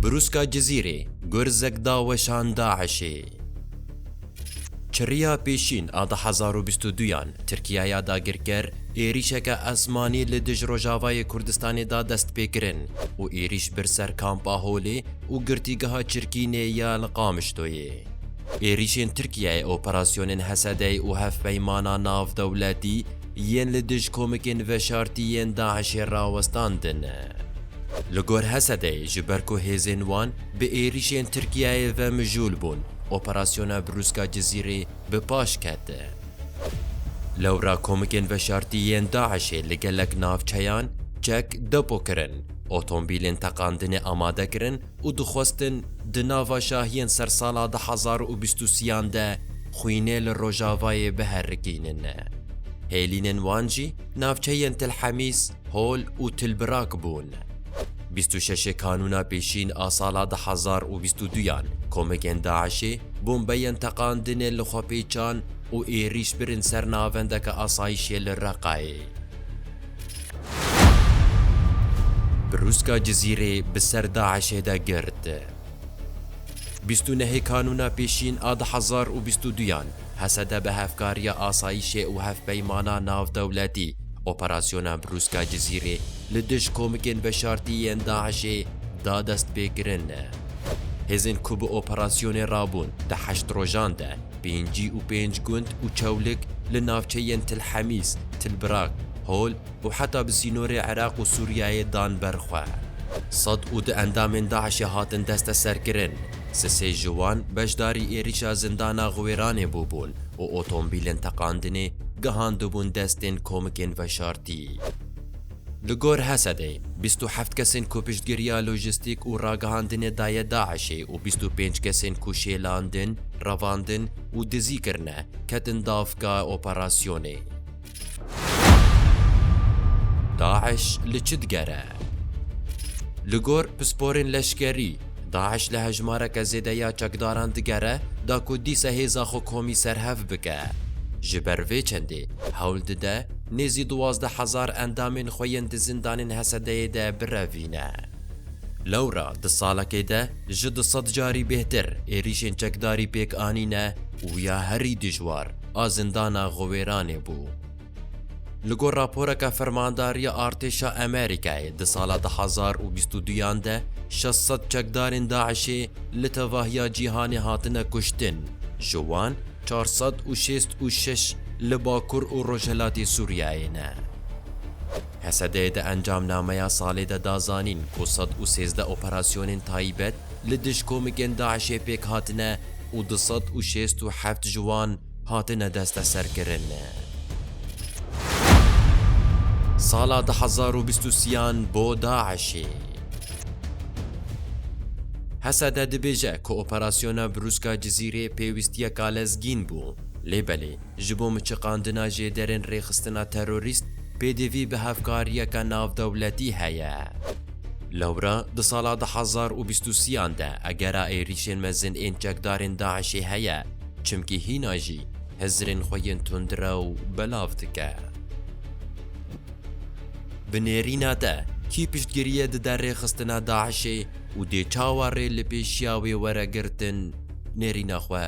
Brûska Cizîrê, gurzek da weşan DAIŞ'ê. Çirriya pêşîn a du hezar û bîst û du yan Tirkîyeya dagirker êrîşeke esmanî li dij Rojavayê Kurdistanê da destpêkirin û êrîş bir ser Kampa Holê û Girtîgeha Çirkînê ya li Qamişloyê. Êrîşên Tirkîyeyê operasyonên Hesedey û hevpeymana navdewletî yên li dij komikên veşartî yên DAIŞ'ê rawestandin. Li gor Hesedeyê ji ber ku hêzên wan bi êrîşên Tirkiyeyê ve mijûl bûn, operasyona Brûska Cizîrê bi paş kete. Lewra komikên veşartî yên DAIŞ'ê li gelek navçeyan çek depo kirin, otombîlên teqandinê amade kirin û dixwestin di nava şahiyên ser sala du hezar û bîst û sî-an de xwînê li Rojavayê biherikînin. Hêlînên wan jî Navçeyên Til Hemîs, Hol û Til Birak bûn. Bîst û şeşê Kanûna Pêşîn a sala du hezar û bîst û duyan komekên DAIŞ'ê bombeyên teqandinê li xwe pêçan û êrîş birin ser navendeke asayîşê li Reqayê. Brûska Cizîrê bi ser DAIŞ'ê de girt. Bîst û nehê Kanûna Pêşîn a du hezar û bîst û duyan Hesede bi hevkariya asayîşê û hevpeymana navdewletî operasyona Brûska Cizîrê li dij komikên veşartî yên DAIŞ'ê da destpêkirin. Hêzên ku bi operasyonê re bûn di heşt rojan de pêncî û pênc gund û çewlik li navçeyên Til Hemîs, Til Brak, Hol û heta bi sînorê Iraq û Sûriyeyê dan ber xwe. Sed û du endamên DAIŞ'ê hatin desteserkirin. Sisê ji wan beşdarî êrîşa zindana Xiwêranê bûbûn û otomobîlên teqandinê gihandibûn destên komikên veşartî. Li gor Hesedê, bîst û heft kesên ku piştgiriya lojîstîk û ragihandinê daye DAIŞ'ê û bîst û pênc kesên ku şêlandin, revandin û dizî kirine, ketin davka operasyonê. DAIŞ li çi digere? Li gor pisporên leşkerî, DAIŞ li hejmareke zêde ya çekdaran digere da ku dîsa hêza xwe komî serhev bike. Ji ber vê çendê hewl dide nêzî duwazdeh hezar endamên xwe yên di zindanên Hesedeyê de birevîne. Lewra di salekê de ji du sed carî bêhtir êrîşên çekdarî pêk anîne û ya herî dijwar a zindana Xiwêranê bû. Li gor raporeke Fermandariya Artêşa Amerîkayê di sala du hezar û bîst û duyan de şeş sed çekdarên DAIŞ'ê li tevahiya cîhanê hatine kuştin, ji wan çar sed û şêst û şeş li bakur û rojhilatê Sûriyeyê ne. Hesedê di encamnameya salê de da zanîn ku sed û sêzdeh operasyonên taybet li dij komikên DAIŞ'ê pêk hatine û du sed û şêst û heft ji wan hatine desteserkirin. Sala du hezar û bîst û sîyan bo DAIŞ'ê. Hesede dibêje ku operasyona brûska Cizîrê pêwîstiyeka lezgîn bû, lê belê Ji bo miçiqandina jêderên rêxistina terorîst, pêdivî bi hevkariyeke navdewletî heye. Lewra di sala du hezar û bîst û sî an de egera êrîşên mezin ên çekdarên DAIŞ'ê heye, çimkî hîna jî hizirên xwe yên tundrew belav dike. Bi nêrîna te, kî piştgiriyê dide rêxistina DAIŞ'ê û dê çawa rê li pêşiya wê were girtin nêrîna xwe?